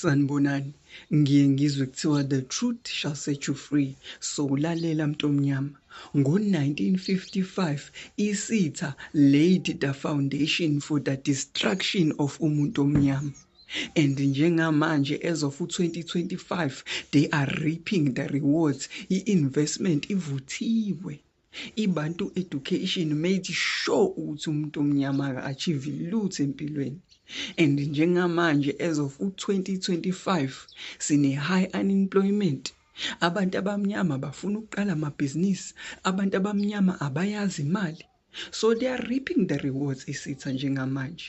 Sanibonani, ngiye ngizwe kuthiwa the truth shall set you free. So lalela mntomnyama. Ngo-1955 isitha Lady Da Foundation for the Destruction of umuntu omnyama. And njengamanje as of 2025 they are reaping the rewards. I-investment ivuthiwe. Ibantu education made sure ukuthi umuntu omnyama aka achieve lutho empilweni and njengamanje as of u-2025 sine high unemployment abantu abamnyama bafuna ukuqala amabhizinisi abantu abamnyama abayazi imali so they are reaping the rewards isitha njengamanje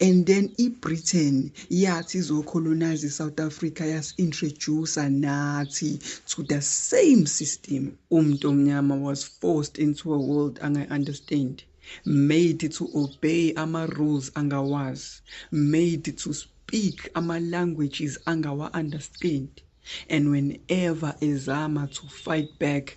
and then iBritain yathi izocolonize iSouth Africa yasi-introducer nathi to the same system. Umuntu omnyama was forced into a world angayi-understand made to obey ama-rules angawazi made to speak ama-languages angawa-understand and whenever ezama to fight back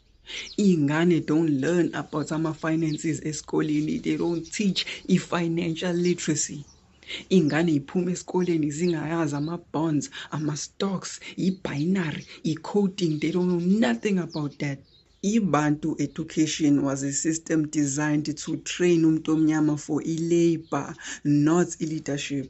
Iy'ngane don't learn about ama-finances esikoleni, they don't teach i-financial literacy. Iy'ngane y'phuma esikoleni zingayazi ama-bonds, ama-stocks, i-binary, i-coding, they don't know nothing about that. Ibantu education was a system designed to train umuntu omnyama for i-labour, not i-leadership.